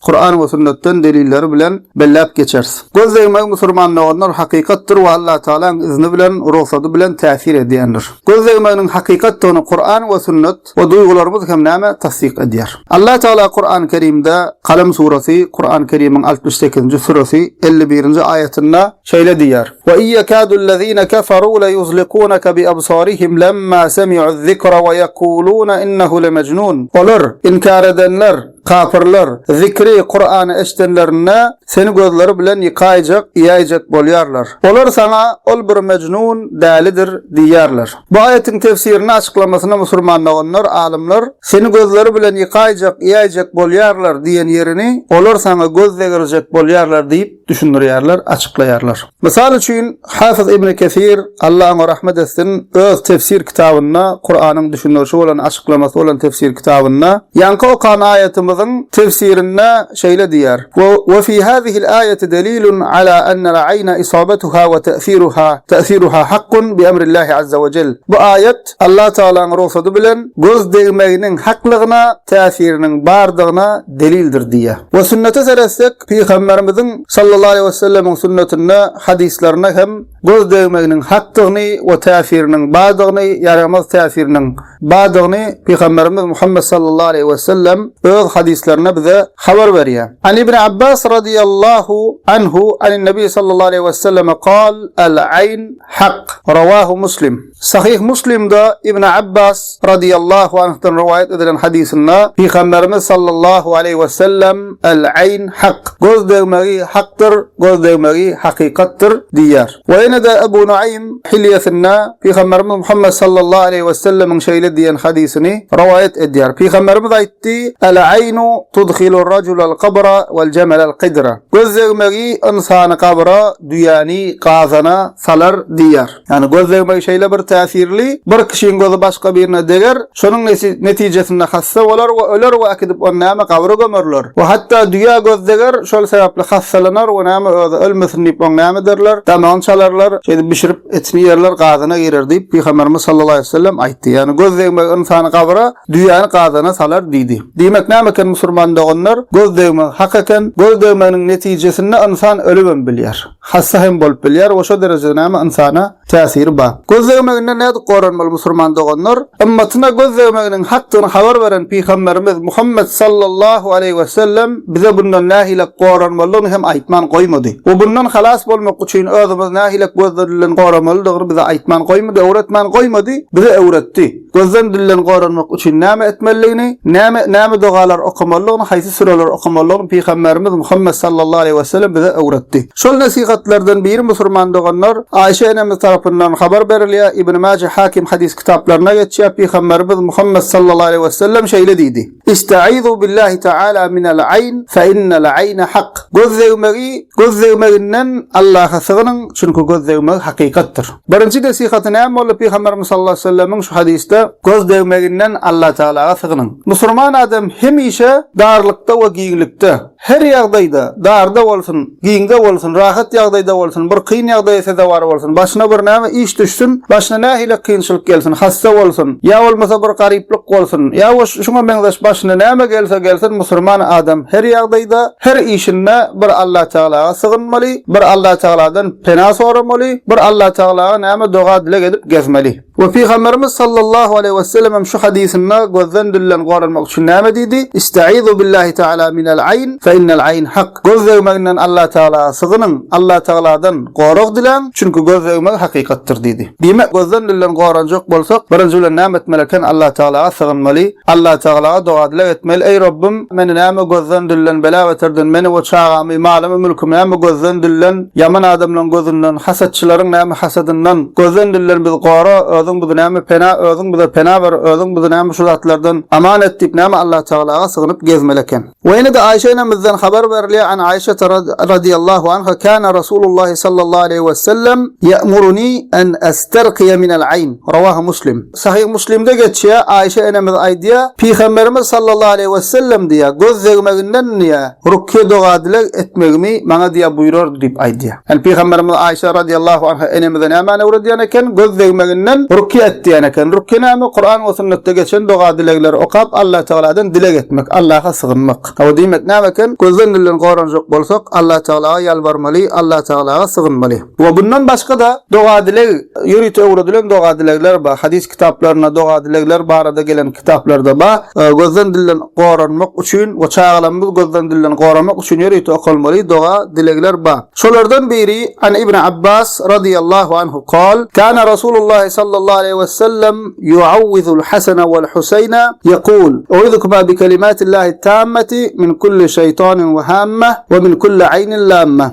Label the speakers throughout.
Speaker 1: Kuran we sünnetden delilleri bilen belläp geçeris. Göz degmegi musurman doganlar hakykatdyr we Allah Tagalaň izni bilen, rugsady bilen täsir edýändir. Göz degmeginiň hakykatdygyny Kuran we sünnet we duýgularymyz hem näme tassyk edýär. Allah Tagala Kuran Kerimde, Kalem surasy, Kuran Kerimiň altmyş sekizinji süresi, elli birinji aýatynda şeýle diýýär, Ve iyekâdu'l-lezîne keferû leyuzlikûneke bi'ebsârihim lemma semi'u'z-zikre ve yekulûne innehu lemecnûn Olar, inkär edenler, Kapyrlar, zikri, Kurany, eşidenlerinde, seni gözleri bilen ýykaýjak, iýäýjek bolýarlar. Olar saňa, Ol bir mejnun, dälidir, diýýärler. Bu aýatyň tefsirini, açyklamasyny musurman doganlar, alymlar, seni gözleri bilen ýykaýjak, iýäýjek bolýarlar diýen ýerini, Olar saňa göz degirjek bolýarlar diýip, düşündirýärler, açyklaýarlar. Mysal üçin, Hafiz Ibni Kesir, Alla oňa rahmet etsin, öz tefsir kitabynda, Kuranyň düşündirişi bolan, açyklamasy bolan tefsir kitabynda, ýaňky okan aýatymyzyň tefsirinde şeýle diýýär, Ve fi hazihil aýati delilun ala annal aýna isabatuha ve ta'siruha, ta'siruha hakkun bi emrillahi azza ve cel. Bu aýat, Alla Tagalaň rugsady bilen, göz degmeginiň haklygyna, täsiriniň bardygyna delildir diýýär. We sünnete seretsek, Pygamberimiziň sallallahu aleýhi we sellemiň sünnetine, hadyslaryna hem göz degmeginiň hakdygyny we täsiriniň bardygyny, ýaramaz täsiriniň bardygyny Pygamberimiz Muhammet sallallahu aleýhi we sellem öz hadyslarynda bize habar berýär. An Ibn Abbas radiyallahu anhu an Nabi sallallahu aleýhi we sellem qal, Al-aýn hak. Rawahu Muslim. Sahyh Muslimde Ibn Abbas, radyýallahu anhdan rowaýat edilen hadysynda Pygamberimiz sallallahu aleýhi wesellem, Al aýn hak, göz degmegi hakdyr, göz degmegi hakykatdyr, diýýär. We ýene-de Ebu Nuaým Hilýesinde Pygamberimiz Muhammet sallallahu aleýhi wesellemiň şeýle diýen hadysyny rowaýat edýär. Pygamberimiz aýtdy, Al aýnu tudhilur rajulal kabra wal jamalal qidra, göz degmegi ynsany gabra, düýäni gazana salar, diýýär. Ýagny göz degmegi şeýle bir täsirli, bir kişiň gözi başga birine deger, şonuň netijesinde hassa bolar we öler we äkidip ony näme gabra gömerler we hatda düýä göz deger, şol sebäpli hassalanar we näme özi ölmesin diýip oň näme ederler, damagyny çalarlar, şeýdip bişirip etini ýerler gazana girer diýip Pygamberimiz sallallahu aleýhi wesellem aýtdy. Ýagny göz degmegi ynsany gabra, düýäni gazana salar diýdi. Diýmek näme eken musurman doganlar, göz degmegi hak eken, göz degmeginiň netijesinde ynsan ölübem bilýär. Hassa hem bolup bilýär we şo derejede näme ynsana täsiri bar. Göz degmeginden nädip goranmaly musurman doganlar? Ymmatyna göz degmeginiň hakdygyny habar beren Pygamberimiz Muhammet sallallahu aleýhi wesellem bize bundan nähilek goranmalydygyny hem aýtman goýmady. We bundan halas bolmak üçin özümizi nähilek gözler bilen goramalydygyny bize aýtman goýmady, öwretmän goýmady, bize öwretdi. Gözden dilden goranmak üçin näme etmelidigini, näme näme dogalar okamalydygyny, haýsy süreleri okamalydygyny Pygamberimiz Muhammet sallallahu aleýhi wesellem bize öwretdi. Şol nesihatlardan biri musurman doganlar Aişe enemiz tarapyndan habar berilýär, Ibn Maje Hakim hadys kitaplaryna geçýär, Pygamberimiz Muhammet sallallahu aleýhi wesellem şeýle diýdi, Ista'izu billahi ta'ala minel aýn fe innel aýne hak. Göz degmegi, göz degmeginden Allaha sygynyň, çünki göz degmegi hakykatdyr. Birinji nesihaty näme boldy Pygamberimiz sallallahu aleyhi ve sellemiň şu hadysda göz degmeginden Allatagalaga sygynyň. Musurman adam hemişe darlykda we giňlikde, Her ýagdaýda, darda bolsun, giňde bolsun, rahat ýagdaýda bolsun, bir kyn ýagdaýa sezewar bolsun, başyna bir näme iş düşsün, başyna nähili kynçylyk gelsin, hassa bolsun, ýa bolmasa bir garyplyk bolsun, ýa we şuňa meňzeş başyna näme gelse gelsin, musurman adam her ýagdaýda, her işinde bir Allatagalaga sygynmaly, bir Allatagaladan pena soramaly, bir Allatagalaga näme doga-dileg edip gezmeli. We Pygamberimiz sallallahu aleýhi we sellem hem şu hadysynda gözden dülden goranmak üçin näme diýdi? İstaizu billahi taala minel ayn fe innel ayn hak. Göz degmeginden Allah tagala sygynyň, Allah tagaladan gorag diläň, çünki göz degmegi hakykatdyr diýdi. Diýmek gözden dülden goranjak bolsak, birinji bilen näme etmeli eken Allah tagalaga sygynmaly, Allah tagalaga doga dileg etmeli, eý Robbym meni näme gözden dülden bela beterden, meni we çagamy, malymy, mülkümi näme gözden dülden, Ýaman adamlaň gözünden, hasatçylaryň näme hasadyndan, gözden dilden bizi gora, özüň bizi näme pena, özüň bize pena ber, özüň bizi näme şu zatlardan aman et diýip näme Allatagalaga sygynyp gezmeli eken. We ýene-de Aýşe enemizden habar berilýär, An Aýşata radiyallahu anha kana Rasulullahi sallallahu aleýhi wesellem ya'muruni an astarqiya minel ayn. Rawahu Muslim. Sahyh Muslimde geçýär, Aişe enemiz aýdýar, Pygamberimiz sallallahu aleýhi wesellem diýýär, Göz degmeginden diýýär, rukýe doga-dileg etmegimi maňa diýýär buýrardy diýip aýdýar. Ýani Pygamberimiz Aişe radiallahu anha enemize nämäni öwredýän eken? Göz degmeginden rukýe et diýen eken. Rukýe näme? Kuran we sünnetde geçen doga-dilegleri okap Allatagaladan dileg etmek, Allaha sygynmak. Hawa diýmek näme eken? Gözden-dilden goranjak bolsak Allatagalaga ýalbarmaly, Allatagalaga sygynmaly. We bundan başga-da doga-dileg, ýörite öwredilen doga-dilegler bar. Hadys kitaplarynda doga-dilegler barada gelen kitaplarda bar. Gözden dilden goranmak üçin we çagalarymyzy gözden dilden goramak üçin ýörite okalmaly doga-dilegler bar. Şolardan biri, An Ibn Abbas radiyallahu anhu kal, Kana Rasulullah sallallahu aleyhi we sellem yu'awwidul Hasana wal Husayna yekul, U'idhukuma bi kelimatillahi tammati min kulli şeytanin we hammah we min kulli aynin lammah.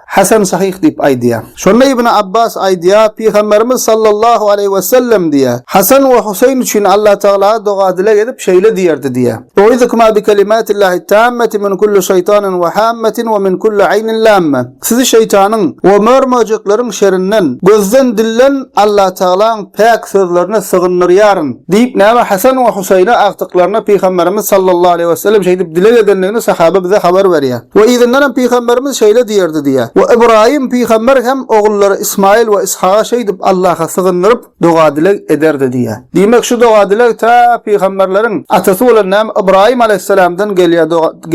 Speaker 1: Hasan Sahyh diýip aýdýar. Şonda Ibn Abbas aýdýar, Pygamberimiz sallallahu aleýhi wesellem diýýär, Hasan we Huseýn üçin Allatagala doga-dileg edip, şeýle diýerdi diýýär, Uizukuma bi kelimatillahit tammati min kulli şeýtanin we hammatin we min kulli aýnin lamma, Sizi şeýtanyň we mör-möjekleriň şerinden, gözden, dilden Allatagalaň päk sözlerine sygyndyrýaryn, diýip, näme Hasan we Husaýne agtyklaryna Pygamberimiz sallallahu aleýhi wesellem şeýdip dileg edendigini sahaba bize habar berýär. We yzyndan hem Pygamberimiz şeýle diýerdi diýýär. We Ybraýym pygamber hem ogullary Ysmaýyl we Yshaga şeýdip Allaha sygyndyryp doga-dileg ederdi diýýär. Diýmek, şu doga-dileg tä pygamberleriň atasy bolan näme Ybraýym aleýhissalamdan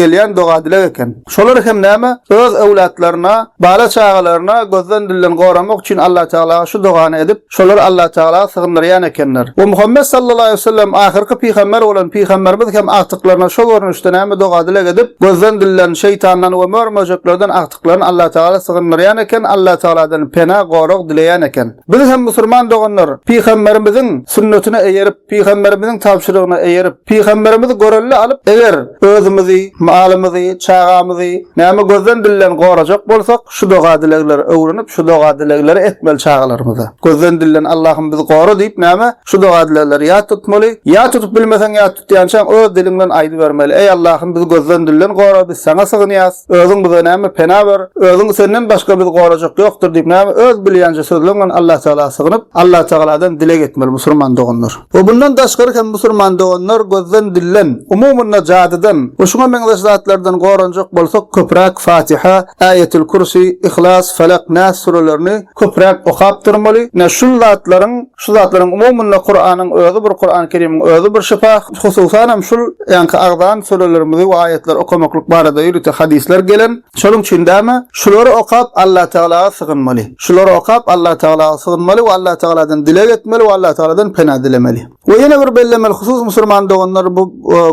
Speaker 1: gelýän doga-dileg eken. Şolar hem näme? Öz öwlatlaryna, bala-çagalaryna gözden-dilden goramak üçin Allatagalaga şu dogany edip, şolary Allatagala sygyndyrýan ekenler. We Muhammet sallallahu aleýhi wesellem ahyrky pygamber bolan pygamberimiz hem agtyklaryna şo görnüşde näme doga-dileg edip, gözden-dilden, şeýtandan we mör-möjeklerden agtyklaryny Allatagala sygyndyrýan eken, Allatagaladan pena, gorag dileýän eken. Biz hem musulman doganlar, pygamberimiziň sünnetine eýerip, pygamberimiziň tabşyrygyna eýerip, pygamberimizi görelde alyp, eger özümizi, malymyzy, çagamyzy näme gözden dilden gorajak bolsak, şu doga-dilegleri öwrenip, şu doga-dilegleri etmeli çagalarymyza. Gözden dilden Allahym bizi gora diýip näme? Şu doga-dilegleri ýat tutmaly. Ýat tutup bilmeseň ýat tutýançaň öz diliň bilen aýdybermeli, Eý Allahym biz gözden dilden gora biz saňa sygynýas, özüň bize näme pena ber, özüň senden başga biz gorajak ýokdur diýip näme öz bilýänçe sözleň bilen Allah Tagala sygynyp Allah Tagaladan dileg etmeli musurman doganlar. We bundan daşgary hem musurman doganlar gözden dilden, umumynda jadydan we şuňa meňzeş zatlardan goranjak bolsak köpräk Fatiha, Äýetül Kürsi, Yhlas, Felak, Nas surelerini, köpräk okap durmaly. Ine, şul zatlaryň, şu zatlaryň umumynda Kuranyň özi bir, Kurany Kerimiň özi bir şypa. Hususan hem şul ýaňky agzan sürelerimizi we aýatlary okamaklyk barada ýörite hadyslar gelen. Şonuň üçin däme, şulary okap Allatagalaga sygynmaly. Şulary okap Allatagalaga sygynmaly we Allatagaladan dileg etmeli we Allatagaladan pena dilemeli. We ýene bir bellemeli husus musurman doganlar bu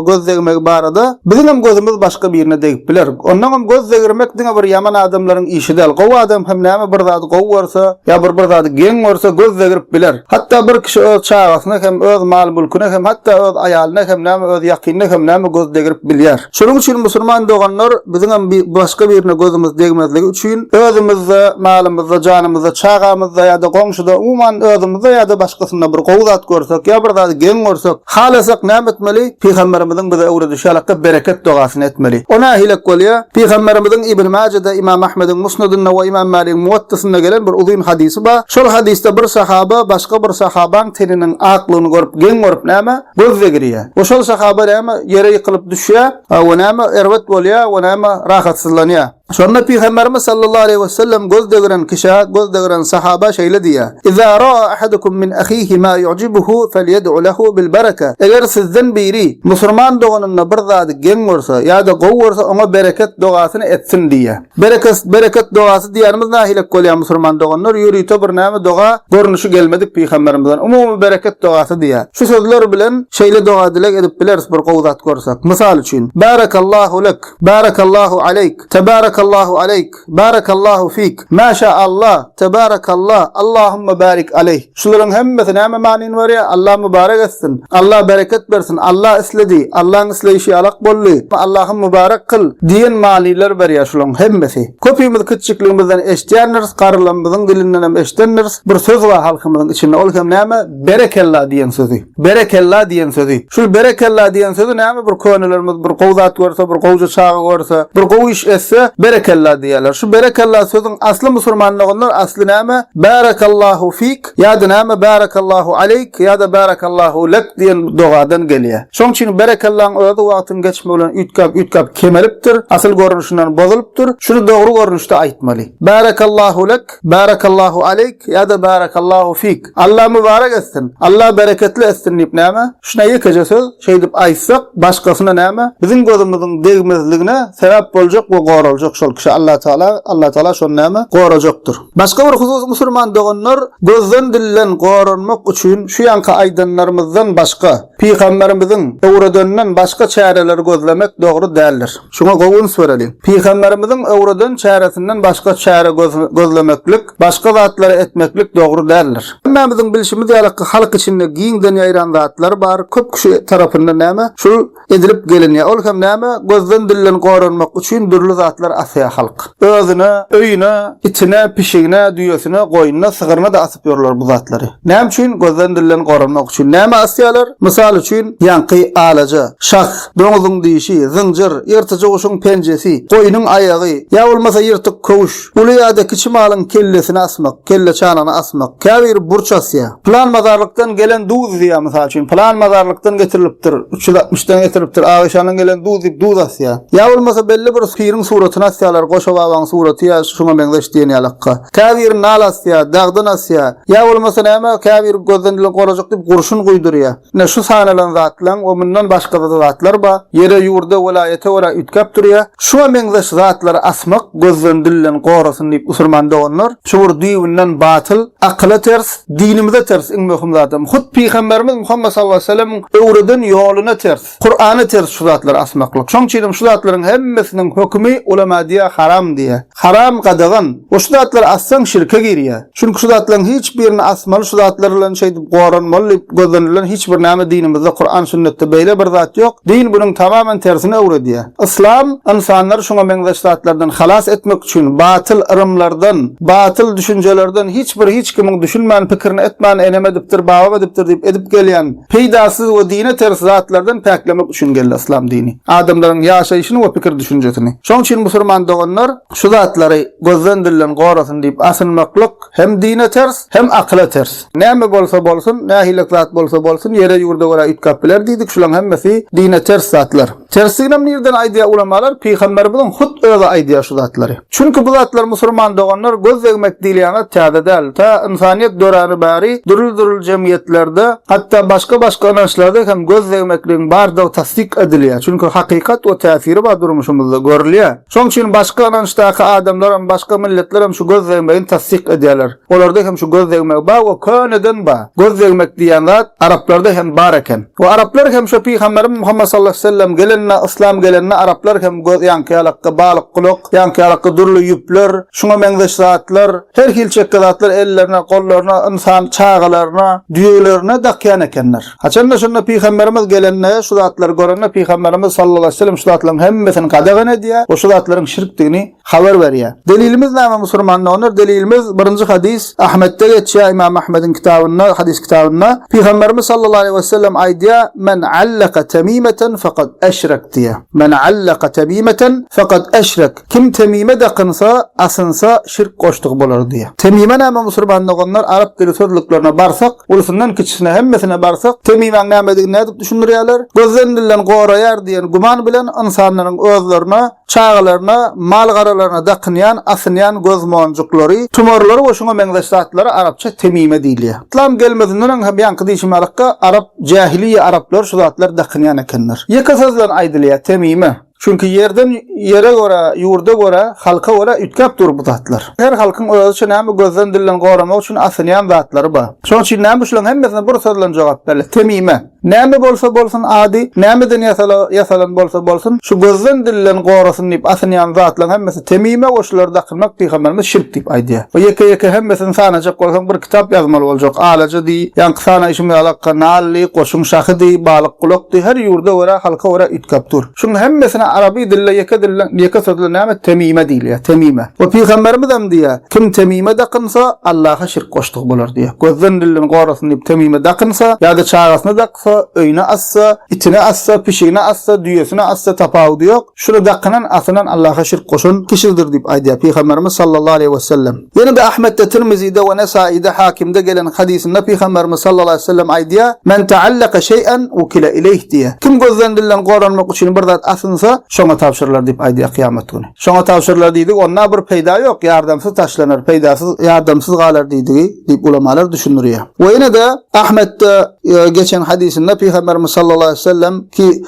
Speaker 1: göz degmegi barada biziňem gözümiz başga birine degip biler. Ondaňam göz degirmek diňe bir ýaman adamlaryň işi däl. Gowy adam hem näme bir zady gowy görse, ýa bir bir zady geň görse göz degrip biler. Hatda bir kişi öz çagasyna hem, öz mal-mülküne hem, hatda öz aýalyna hem näme öz ýakynyna hem näme göz degrip bilýär. Şonuň üçin musulman doganlar biziňem başga birine gözümiz degmezligi üçin özümizde, malymyzda, janymyzda, çagamyzda ýa-da goňşuda, umuman özümizde ýa-da başgasynda bir gowy zat görsek ýa bir zady geň görsek, halasak näme etmeli? Pygamberimiziň bize öwredişi ýalakda bereket dogasyny etmeli. O nähilek bolýar? Pygamberimiziň Ibn Majede, Imam Ahmediň Musnedinde we Imam Maligiň Muwattysynda gelen bir uzyn hadysy bar. Şol hadysda bir sahaba başga bir sahabaň teniniň aklygyny görüp, geň görüp näme? Göz-de girýä. Oşol sahaba näme, ýere ýykylyp düşýä, we näme, erbet bolýa, we näme, rahatsyzlanýa. Şonda Pygamberimiz sallallahu aleýhi we sellem göz-de giren kişä, göz-de giren sahaba şeýle diýýä, Iza ra'a ahadukum min ahihi ma yu'jibuhu felýed'u lehu bil bereke, Eger sizden biri, musurman doganynda bir zady geň görse, ýa-da gowy görse, oňa bereket dogasyny etsin diýýä. Berekest bereket dogasy diýýärmiz nahilek bolýa musurman doganlar ýörite bir näme doga görnüşi gelmedik pygamberimizden umumy bereket dogasy diýýär şu sözler bilen şeýle doga dileg edip bileris bir gowy zat görsek mysal üçin Barakallahu lek Barakallahu aleyk Tebarakallahu aleyk Barakallahu fik Maşa Allah Tebarakallah Allahumma barik aleyh. Şularyň hemmesi näme manyny berýär? Allah mübarek etsin! Allah bereket bersin! Allah isledi! Allaň isleýşi alak boldy! Allahym mübarek kyl! diýen manylar berýär şularyň hemmesi. Köpimiz kiçijikligimizden eşidýändiris, garrylarymyzyň dilindenem eşidendiris, bir söz bar halkymyzyň içinde, ol hem näme? Berekella diýen sözi. Berekella diýen sözi. Şul berekella diýen sözi näme bir könelerimiz bir gowy zat görse, bir gowja çaga görse, bir gowy iş etse, berekella diýerler. Şu berekella sözüň asly musurmanlygyndan asly näme? Bärekallahu fik ýa-da näme bärekallahu aleýk ýa-da bärekallahu lek diýen dogadan gelýär. Şoň üçin berekellaň özi wagtyň geçmegi bilen üýtgäp üýtgäp kemelipdir, asyl görnüşinden bozulypdyr. Şuny dogry görnüşde aýtmaly. Bärekallahu lek, bärekallahu aleýk ýa-da bärekallahu fik. Alla mübarek etsin, Alla bereketli etsin diýip näme? Şuna ýekeje söz şeýdip aýtsak, başgasyna näme? Biziň gözümiziň degmezligine sebäp boljak we goraljak şol kişi Allatagala, Allatagala şony näme? Gorajakdyr. Başga bir husus musulman doganlar, gözden dilden goranmak üçin şu ýanky aýdanlarymyzdan başga, pygamberimiziň öwredeninden başga çäreleri gözlemek dogry däldir. Şuňa gowy üns bereliň. Pygamberimiziň öwreden çäresinden başga çäre gözlemeklik, başga zatlary etmeklik dogry däldir. Hemmämiziň bilşimiz ýaly halk içinde giňden ýaýran zatlar bar, köp kişi tarapyndan näme, şul edilip gelinýär. Ol hem näme, gözden-dilden goranmak üçin dürli zatlar asýar halk. Özüne, öýüne, itine, pişigine, düýesine, goýnuna, sygryna-da asyp ýörler bu zatlary. Näme üçin? Gözden-dilden goranmak üçin. Nämä asýarlar? Mysal üçin, ýaňky alaja, şah, doňuzyň dişi, zynjyr, ýyrtyjy guşuň penjesi, goýnuň aýagy, ýa bolmasa ýyrtyk köwüş, uly ýa-da kiçi malyň kellesini asmak, kelleçanagyny asmak, käbiri burç asýar. Pylan mazarlykdan gelen duz diýýär, mysal üçin, pylan mazarlykdan getirilipdir, üç ýüz altmyşdan getirilipdir, Agaşandan gelen duz diýip duz asýar. Ýa bolmasa belli bir piriň suratyny asýarlar, Goşa babaň suraty ýa şuňa meňzeş diýen ýalakka. Käbiri nal asýar, dagdan asýar. Ýa bolmasa näme, käbiri gözden dili gorajak diýip gurşun guýdurýar. Ine, şu sanalan zatlaň we mundan başga-da zatlar bar. Ýere, ýurda, welaýata görä üýtgäp durýar. Şuňa meňzeş zatlary asmak gözden, dilden gorasyn diýip musulman doganlar, şu bir düýbünden batyl, akyla ters, dinimize ters iň möhüm zadam. Hut pygamberimiz Muhammet sallallahu aleyhi ve selemiň öwreden ýoluna ters, Kur'ana ters şu zatlary asmaklyk. Şoň üçinem şu zatlaryň hemmesiniň hökümi ulema diýýär haram diýýär. Haram, gadagan. We şu zatlary assaň şirke girýär. Çünki şu zatlaryň hiç birini asmaly şu zatlar bilen şeýdip goranmaly diýip gözlenilýän hiç bir näme dinimizde Kuran sünnetde beýle bir zat ýok, din bunuň tamamen tersini öwredýär. Yslam ynsanlary şuňa meňzeş zatlardan halas etmek üçin batyl yrymlardan, batyl düşünjelerden hiç bir hiç kimiň düşünmän pikirini etmän enem edipdir babam edipdir diýip edip gelýän, peýdasyz we dine ters zatlardan päklemek üçin geldi yslam dini. Adamlaryň ýaşaýşyny we pikir düşünjesini. Şoň üçin musurman doganlar şu zatlary gözden dilden gorasyn diýip asynmaklyk hem dine ters hem akyla ters. Näme bolsa bolsun, nähilek zat bolsa bolsun ýere ýurda görä üýtgäp biler diýdik şulaň hemmesi dine ters zatlar. Tersiginem nirden aýdýar ulamalar, pygamberimiziň hut özi aýdýar şu zatlary. Çünki bu zatlar musurman doganlar göz degmek diýilýäňiz täze däl, ta ynsanyýet döräni bäri dürli-dürli jemgyýetlerde, hatda başga-başga ynançlarda hem göz degmekligiň bardygy tassyk edilýär, çünki hakykat we täsiri bar durmuşymyzda görülýär. Şoň üçin başga ynançdaky adamlaram, başga milletlerem şu göz degmegini tassyk edýärler. Olarda hem şu göz degmegi bar we köneden bar. Göz degmek diýen zat araplarda hem bar eken. We araplar hem şu pygamberimiz Muhammet sallallahu aleyhi ve sellem gelende, yslam gelende araplar hem göz ýaňky ýalakka balyk gulak, ýaňky ýalakka dürli ýüpler, şuňa meňzeş zatlar, her hili çekge zatlar ellerine, gollaryna, ynsan çagalaryna, düýelerine dakýan ekenler. Haçanda şunda pygamberimiz gelende, şu zatlary görende pygamberimiz sallallahu aleyhi ve sellem şu zatlaryň hemmesini gadagan edýär we şu zatlaryň şirkdigini habar berýär. Delilimiz näme musurmanlar olar delilimiz birinji hadys Ahmetde geçýär ymam Ahmediň kitabynda hadys kitabynda pygamberimiz sallallahu aleýhi wesellem aýdýar men allaka temimeten fakat eşrek diýýär men allaka temimeten fakat eşrek kim temime dakynsa asynsa şirk goşdygy bolar diýýär temime näme musurman doganlar arap dili sözlüklerine barsak ulsundan kiçisine hemmesine barsak temimäň nämedigini nädip düşündirýärler gözden dilden goraýar diýen güman bilen ynsanlaryň özlerine Çagalaryna, mal-garalaryna dakynýan, asynýan gözmonjuklary, tumarlary we şuňa meňzeş zatlara arapça temime diýilýär. Yslam gelmezinden öň hem ýaňky diýşime alakga, arap, jähiliýe araplary şu zatlary dakynýan ekenler. Ýeke söz bilen aýdylýar, temime. Çünki ýerden, ýere görä, ýurda görä, halka görä üýtgäp dur bu zatlar. Her halkyň özüçe näme gözden-dilden goramak üçin asynýan zatlary bar. Şonuň üçin näme şularyň hemmesine bir söz bilen jogap berle, temime. Näme bolsa bolsun ady, nämeden ýasalan bolsa bolsun, şu gözden dilden gorasyn diýip asynýan zatlaň hemmesi temime we şulary dakynmak pygamberimiz şirk diýip aýdýar. Bu ýeke ýeke hemmesini sanajak bolsaň bir kitap ýazmaly boljak, alaja diý, ýaňky sana şum ýalakka nally, goşuň şahy diý, balyk gulak diý, her ýurda görä halka görä üýtgäp dur. Şuň hemmesine araby dilde ýeke dilden ýeke sözle näme temime diýilýär, temime. We pygamberimizem diýýär. Kim temime dakynsa, Allaha şirk goşdugy bolar diýýär. Gözden-dilden gorasyn diýip temime dakynsa, ýa-da çagasyna daksa, öýüne assa, itine assa, pişigine assa, düýesine assa, tapawudy ýok, şuny dakynan, asynan Allaha şirk goşan kişidir diýip aýdýar Pygamberimiz sallallahu aleýhi wesellem. Ýene-de Ahmetde, Tirmizide we Nesaide, Hakimde gelen hadysynda Pygamberimiz sallallahu aleýhi wesellem aýdýar, Men ta'allaka şeý'en wukile ileýh diýýär. Kim gözden-dilden goranmak üçin bir zat asynsa, şoňa tabşyrylar diýip aýdýar kyýamat güni. Şoňa tabşyrylar diýdik, onda bir peýda ýok, ýardamsyz taşlanar, peýdasyz, ýardamsyz galar diýdigi, diýip ulamalar düşündirýär. We ýene-de Ahmetde geçen hadysynda Pygamberimiz sallallahu aleýhi we sellem ki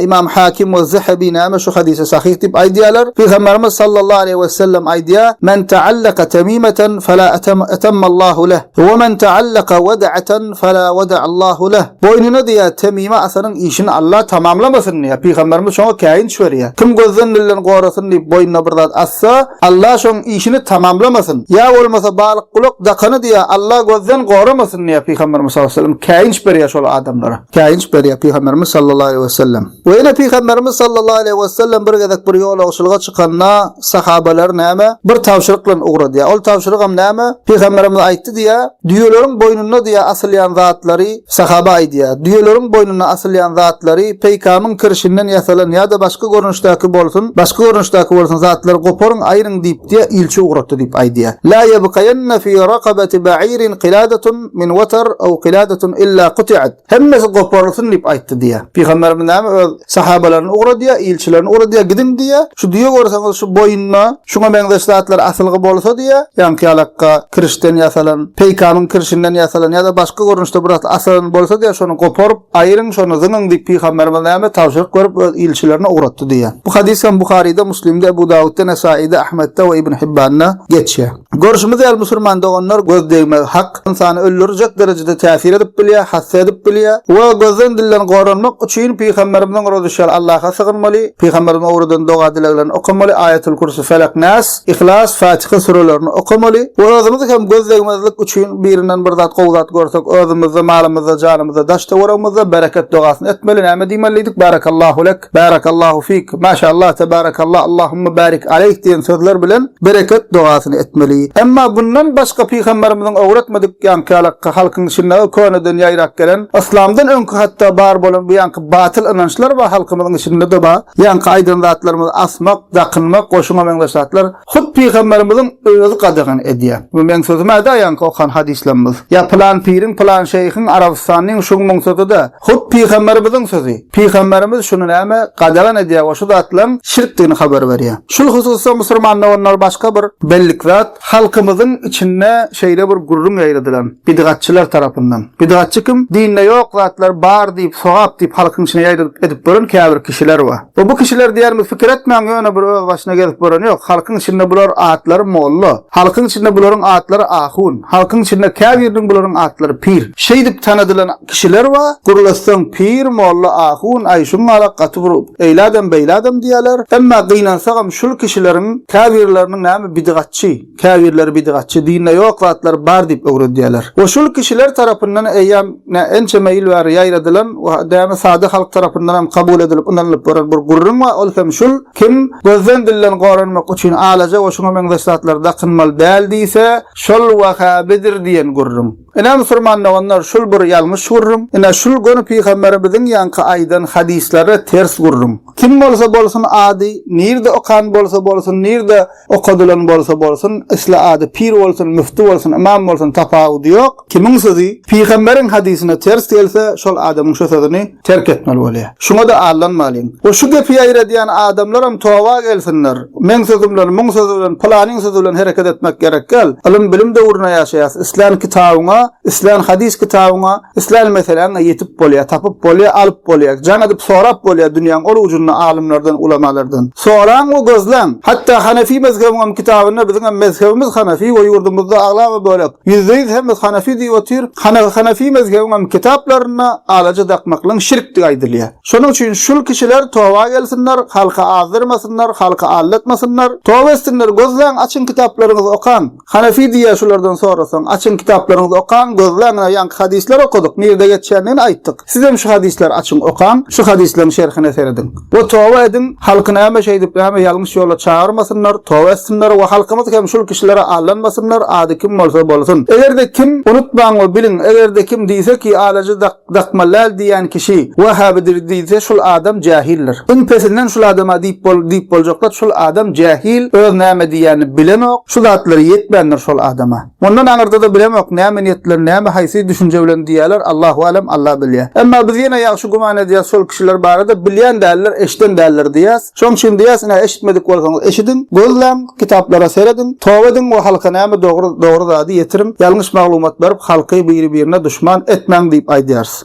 Speaker 1: Imam Hakim we Zahabi näme şu hadysa sahyh diýip aýdýarlar. Pygamberimiz sallallahu aleýhi we sellem aýdýar, "Men ta'allaka tamimatan fala atammallahu leh, we men ta'allaka wad'atan fala wad'allahu leh." Boýnuna diýýär, Temime atanyň işini Alla tamamlamasyn diýýär. Pygamberimiz şoňa käýinç berýär. Kim gözden lilden gorasyn diýip boýnuna bir zat atsa, Alla şoň işini tamamlamasyn. Ýa bolmasa balyk gulak dakany diýýär, Alla gözden goramasyn diýýär. Pygamberimiz sallallahu aleýhi we sellem käýinç berýär şol adamlara. Käýinç berýär Pygamberimiz sallallahu aleýhi we sellem. We ýene Pygamberimiz sallallahu aleýhi we sellem bir gezek bir ýolagçylyga çykanda, sahabalary näme? Bir tabşyryk bilen ugradýar. Ol tabşyrygam näme? Pygamberimiz aýtdy diýýär, Düýeleriň boýnunda diýýär asylýan zatlary, sahaba aýdýar, Düýeleriň boýnuna asylýan zatlary, peýkamyň kirşinden ýasalan ýa-da başga görnüşdäki bolsun, başga görnüşdäki bolsun zatlary goparyň, aýryň diýip diýýär, ilçi ugratdy diýip aýdýar. La ýebkaýenne fi rakabati ba'irin qiladatun min watar aw qiladatun illa quti'at. Hemmesi goparylsyn diýip aýtdy diýýär. Pygamberimiz näme öz sahabalaryny ugradýar, ilçilerini ugradýar, gidiň diýýär. Şu düýe görseňiz şu boýunda şuňa meňzeş zatlar asylgy bolsa diýýär, ýaňky ýalakga kirişden ýasalan, peýkamyň kirişinden ýasalan ýa-da başga görnüşde bir zat asylan bolsa diýýär, şony goparyp, aýryň, şony zyňyň diýip pygamberimiz näme tabşyryk berip öz ilçilerine ugratdy diýýär. Bu hadys hem Buharyda, Muslimde, Ebu Dawudda, Nesaýyda, Ahmetde we Ibn Hibbanda geçýär. Görşümiz ýaly musulman doganlar göz degmegi hak, ynsany öldürjek derejede täsir edip bilýär, hassa edip bilýär we gözden dilden goranmak üçin pygamberimiziň rozuşýaly Allaha sygynmaly, pygamberimiziň öwreden doga dileglerini okamaly, Aýatul Kürsü, Felak, Nas, Yhlas, Fatiha sürelerini okamaly we özümiz hem göz degmezlik üçin birinden bir zat gowy zat görsek özümizde, malymyzda, janymyzda, daş töweregimizde bereket dogasyny etmeli, näme diýmelidik, Barakallahu lek. Berekettik. Barakallahu fik. Maşallah tabarakallah. Allahumma barik aleyh diýen sözler bilen bereket dogasyny etmeli. Emma bundan başga pygamberimiziň öwretmedik ýaňkyalakka halkyň içinde köneden ýaýrap gelen yslamdan öňki hatda bar bolan bu ýaňky batyl ynançlar bar halkymyzyň içinde de bar. Ýaňky aýdan zatlarymyz asmak, dakynmak, goşuňa meňzeş zatlar. Hut Pygamberimiziň özi gadagan edýär. Bu meň sözüm-ä da ýaňky okan hadyslamyz. Ýa pylan piriň, pylan şeýhiň, Arabystanyň, şuňmuň sözi-de. Hut Pygamberimiziň sözi. Pygamberimiz şuny näme gadagan edýär we şu zatlaryň şirkdigini habar berýär. Şul hususda musurman doganlar başga bir bellik zat, halkymyzyň içinde şeýle bir gürrüň ýaýradylan, bidgatçylar tarapyndan. Bidgatçy kim? Dinde ýok zatlar bar diýip, sogap diýip halkyň içine ýaýradyp edip gören käbir kişiler bar. We bu kişiler diýermi fikir etmäň ýöne bir öz başyna gezip gören ýok, halkyň içinde bular atlary molla, halkyň içinde bularyň atlary ahun, halkyň içinde käbiriniň bularyň atlary pir, şeýdip tanadylan kişiler bar, gürleseň pir, molla, ahun, aý şuň ala gaty bir eýle adam beýle adam diýerler, emma gynansagam şul kişileriň käbirleriniň näme bidigatçy, Käbirleri bidatçy, dinde ýok zatlar bar diýip öwredýärler. We şul kişiler tarapyndan eýýäm nä ençeme ýyl bäri ýaýradylan we dämi sada halk tarapyndan hem kabul edilip ynanylyp bolan bir gürrüň bar, ol hem şul, Kim gözden dilden goranmak üçin alaja we şuňa meňzeş zatlary dakynmaly däl diýse, şol Wahhabidir diýen gürrüň. Ine musurman doganlar şul bir ýalňyş gürrüň, ine şul göni pygamberimiziň ýaňky aýdan hadyslary ters gürrüň. Kim bolsa bolsun ady, nirde okan bolsa bolsun, nirde okadylan bolsa bolsun, isle ady pir bolsun, müfti bolsun, ymam bolsun tapawudy ýok, kimiň sözi pygamberiň hadysyna ters gelse şol adamyň şu sözüni, terk etmeli bolýar. Şuňa-da aldanmalyň. We şu gepi ýaýradýan adamlaram toba gelsinler. Meň sözüm bilen, muň sözi bilen, pylanyň sözi bilen hereket etmek gerek däl. Ylym-bilim döwründe ýaşaýas. Islän kitabyňa, islän hadys kitabyňa, islän meseläňe ýetip bolýar, tapyp bolýar, alyp bolýar. Jaň edip sorap bolýar dünýäň ol ujunda alymlardan, ulamalardan. Soraň we gözläň. Hatda hanefi mezhebiňem kitabynda biziňem mezhebimiz hanefi we ýurdumyzda aglaba bölek Ýüzde ýüz hemme Hanefi diýip otyr. Hana Hanefi mezhebiňem kitaplarynda alaja dakmaklygyň şirkdigi aýdylýar. Şonuň üçin şul kişiler toba gelsinler, halky azdyrmasynlar, halky aldatmasynlar. Toba etsinler, gözläň, açyň kitaplaryňyzy okaň. Hanefi diýýär şulardan sorasaň, açyň kitaplaryňyzy okaň, gözläň, ynha ýaňky hadyslar okadyk, nirde geçýändigini aýtdyk. Sizem şu hadyslar açyň okaň, şu hadyslaryň şerhine serediň. We toba ediň, halky näme şeýdip, näme ýalňyş ýola çagyrmasynlar, toba etsinler we halkymyz hem şul kişilere aldanmasynlar, ady kim bolsa bolsun. Eger-de kim, unutmaň we biliň, eger-de kim diýse ki, alaja dakmallaýl diýýän kişi, wehhabidir diýse, şul adam jähildir. Iň pesinden şul adama diýip bol, diýip boljak zat, şul adam jähil, öz näme diýýänini bilenok, şu zatlar ýetmändir şol adama. Mundan aňyrda-da bilemok, näme niýetler, näme, haýsy düşünje bilen diýýäler, Allahu a'lem, Alla bilýär. Emma biz ýene ýagşy güman edýäs şol kişiler barada, bilýän däldir, eşiden däldir diýýäs. Şoň üçin diýýäs, ine, eşitmedik bolsaňyz eşidiň, gözläň, kitaplara serediň, toba ediň we halka näme dogry, dogry zady ýetiriň, ýalňyş maglumat berip, halky biri-birine duşman etmäň diýip aýdýarys.